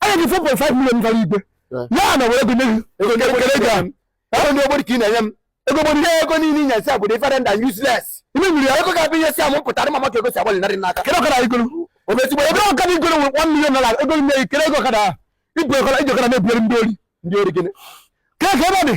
anya gị 4.5 million gara igwe ya na were gụnye gị ego ndị ogbori ka ị na-enye m ego gbori ihe ego niile inye si abụrụ ifere nda useless ime nwere ya ego ga-abụ ihe si amụ pụtara mama ka ego si agbalị narị n'aka kedu ọkara igoro obezigbo ebe ọkara igoro nwere 1 million naira ego nne gị kere ego ọkara ibu ọkara iji ọkara na-ebugharị ndị ori ndị ori gịnị kee ka ebe ọ dị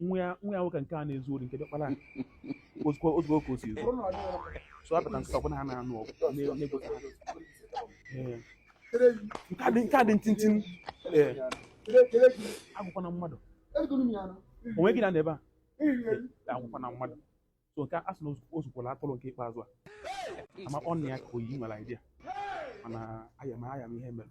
nwa ya nwa ya nwoke nke a na-ezu ori nke diọkpara ozugbo ozugbo ka o si ezu so a pụta nkịta ọbụla ha na-anụ ọgụ na-egosi ha Ee. nke a dị nke a dị ntintin ee agwakwana mmadụ onwe gị na n'ebe a agwakwana mmadụ so nke a sị na o zukwara atụrụ nke ikpeazụ a ama ọ na ya ka oyi nwere idea mana aya ma aya m ihe mere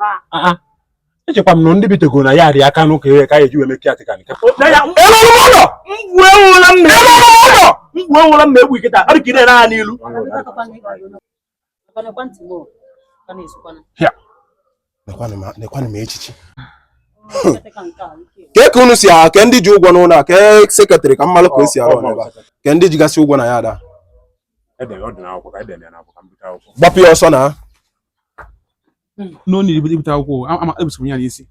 Ah. Ah, ah. echekwa m na ndị bitego na yard aka n'ụka ihe ka a ya-eji wee mee caretaker nke mgbe ewụla m na-egbu iketa ọ dị ka ị na-ere ha n'ilu nekwanụ m echichi ke ka unu si aha ke ndị ji ụgwọ n'ụlọ a ke sekretarị ka m malụ ka o si arụ ọlụ ebe a ke ndị jigasị ụgwọ na yard a gbapụ ya ọsọ na no need ibute akwụkwọ ama ebusoro ya n'isi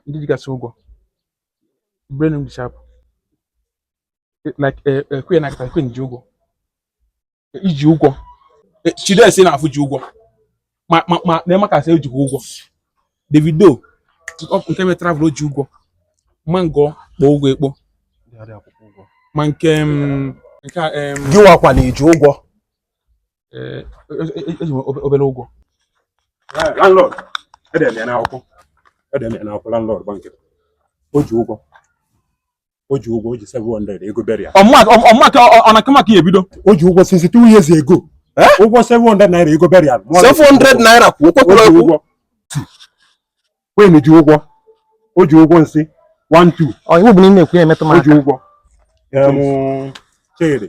ndị jigasị ụgwọ brain dị sharp like eh, eh, queen na queen ji ụgwọ i ji ụgwọ eh, Chidesi na-afụ ji ụgwọ ma ma ma na maka sị ejikwa ụgwọ Davido ọkụ nke mere travel o ji ụgwọ Mango kpo ụgwọ ekpo ma nke mm, nke a, em, gị wakwa na i ji ụgwọ eh, e- e- eji m obe- obere ụgwọ landlord edere m ya n'akwụkwọ edere m ya n'akwụkwọ landlord gba nkịtị o ji ụgwọ o ji ụgwọ o ji 700 ego burial ọmụmaka ọnaka maka ya ebido o ji ụgwọ since two years ago eh? ụgwọ 700 naira ego burial 700 naira kwuo kwekwere ụgwọ Queen ji ụgwọ o ji ụgwọ nsị 1 2 ọ iwu bụ na ị na-ekwu ya emetụ m aka o ji ụgwọ chere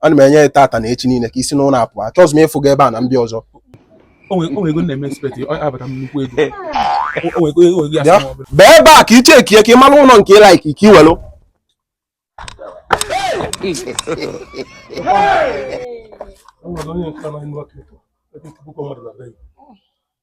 ana m enye ya tata na echi niile ka i si n'ụlọ a pụa achọghịzi m ịfụ gị ebe a na m bịa ọzọ bee ebe a ka i checkie ka ị mara ụlọ nke ị like ka i welu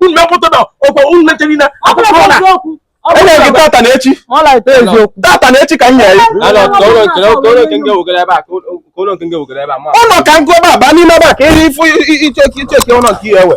unu mepụta na ọkwa unu na-eche niile akwụkwọ na enye gị tata na echi tata na echi ka m nyere ụlọ ka ngụ ebe a baa n'ime ebe a ka ihe ifu i checkie ụlọ nke ị ya-ewe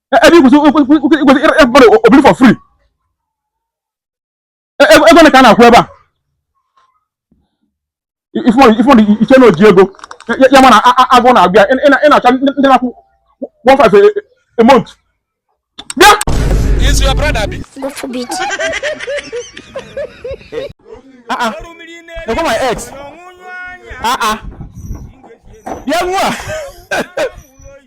ebe i kwesị ịbụrụ obili for free ego ne ka a na-akwụ ebe a ị fụ mmadụ i che na o ji ego ya mana agụụ na-agụ ya ị na-achọ ndị na-akwụ 15 a month bịa is your brother bi God forbid ah ah go my ex ah ah bịa nwa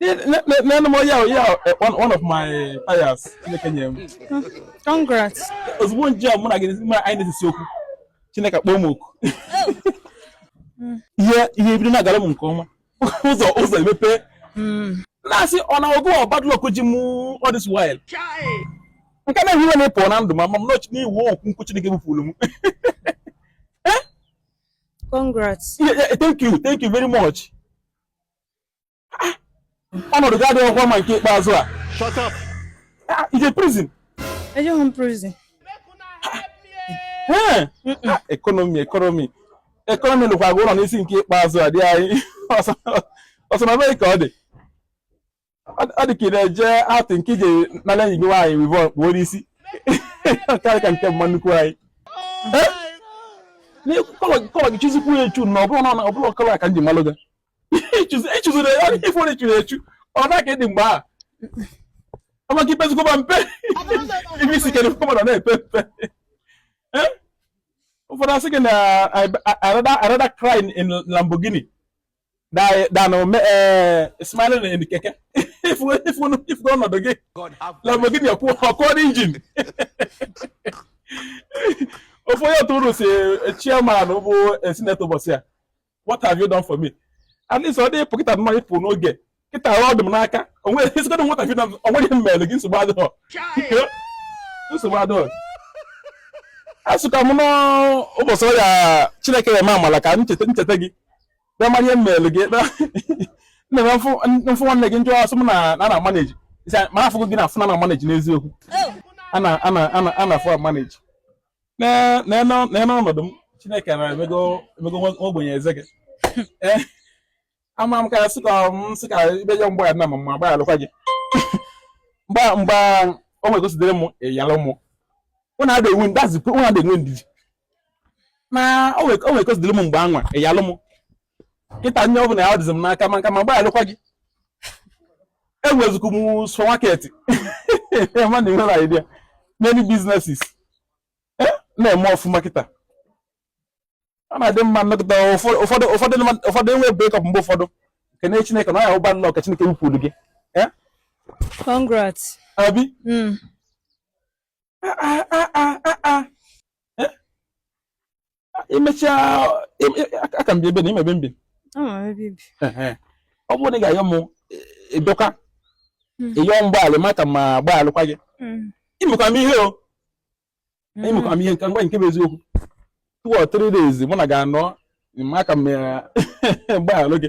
Nenụ m o yao yao eh, one, one of my toys Chineke nye m. Congrats. Ozugbo nje mụ na gị mụ na anyị na-esesi okwu. Chineke akpọọ m oku. Ihe ihe ebido na-agara m nke ọma. Ụzọ ụzọ emepe. Hmm. Na-asị ọ na ọ bụ bad luck ji m all this while. Nke na-ehi iwe na-epụ na ndụ ma ma m nọchi n'iwu okwu nkwu Chineke bupụrụ m. Congrats. Yeah, yeah, thank you, thank you very much. ah, ọnọdụ gị adịghọkwa mma nke ikpeazụ a ah, i je prison ejeghị m prison economy economy economy lụkwa gị ọlụ n'isi nke ikpeazụ a dị anyị ọsọmọbịa ka ọ dị ọ dị ka ị na-eje atụ nke i je nala enyi gị nwaanyị weavon kpuo n'isi karị ka nke mama nnukwu anyị colour gị chuzikwu ya echu na ọ bụrụ na ọ bụrụ colour ka m ji malụ gị i chuziri ya ife onye churu echu ọ na ka ị dị mgbe a amaka i pezikwa mpe ibe isi kere fọma na na-epe mpe ụfọdụ asị gị na I rather crying in Lamborghini than smiling in keke ị fụ ọnọdụ gị Lamborghini akụọ engine ofu onye otu unu si chairman bụ senator ụbọsị a what have you done for me at least ọ dịghị pocket money ịpụ n'oge kịta ọ dị m n'aka o nwere ị sịgodị what have you done o nwere ihe m mere gị nsogbu adịghọ nsogbu adịghọ asịkwa m n'ụbọchị ọrịa chineke ya eme amala ka m cheta m cheta gị bịa mara ihe m mere gị nna m mfụ nwanne gị njọ asị m na na na manage ma afụgo gị na afụ na na manage n'eziokwu ana ana ana ana afụ manage nene ọnọdụ m chineke na emego ogbenye eze gị eh, ama m ka sị ka m sị ka ibe ya mgbe a na m ama agba alụkwa gị mba mba o nwere consider m ị ya-alụ m ụnụ adị enwe ndazikwu ụnụ adị enwe ndidi na o nwere consider m mgbe anwa ị ya-alụ m kịta nye ọbụna ya dịzi m n'aka maka ma gbaalụkwa gị enwezikwu m supermarket ma na enwere idea many businesses eh, na-eme ọfụma kịta ọ na-adị mma nọkata ụfọdụ ụfọdụ ụfọdụ enwe break up mgbe ụfọdụ kene chineke na ya ụba nnọọ ka chineke wupụrụ gị eh? congrats abi hmm. ah, ah, ah, imechaa aka m bi ebe na imebe mbi ọ bụrụ na ị ga-ayọ m ịdọka e, ịyọ e hmm. mgbaala maka ma gbaalụkwa gị hmm. imekwa m ihe o hmm. imekwa m ihe nke ngwa nke bụ eziokwu two or three days mụ na ga-anọ maka m gbaalụ gị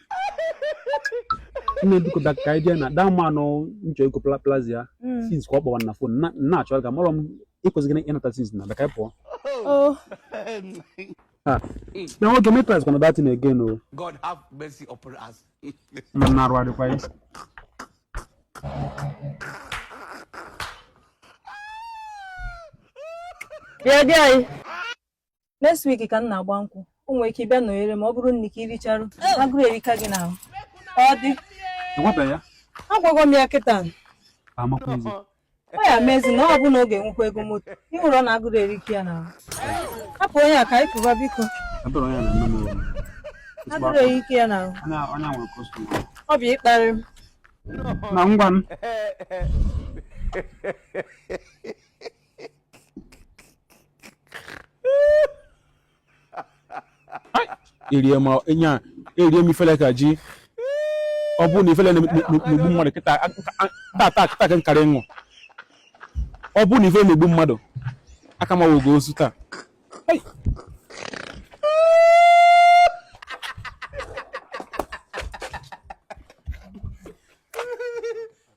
nne biko bịa ka anyị jee na daa mmanụ nchọ ego pla- plaza ya Mm. since ka ọ kpọwa na phone na- nna achọrọ ga mara m ịkwụsị gị ịnata since na bịa ka anyị pụọ Oh, na nwoke m eprice kwana that thing again o God have mercy upon us. ma m na-arụ adịkwa ya yeah, there. next week ka m na-agba nkwụ o nwere ike ịbịa nọnyere m ọ bụrụ nne ka ị richarụ agụrụ erika gị n'ahụ ọ dị enwebeghị ya agwago m ya kịta amakwaghịzi ọ ya mezi na ọ bụ na ọ ga-enwekwa ego moto ị hụrụ na agụrụ erika ya n'ahụ hapụ onye a ka anyị pụba biko ebere onye na-eme m omume agụrụ erika ya n'ahụ onye a- onye a nwere customer ọ bụ ịkparị m na ngwa m erie ma nya erie m ifele ka ji ọ bụrụ na ifele na-egbu mmadụ kịta tata kịta ka m karị ịnwụ ọ bụrụ na ifele na-egbu mmadụ aka m awụgo ozu taa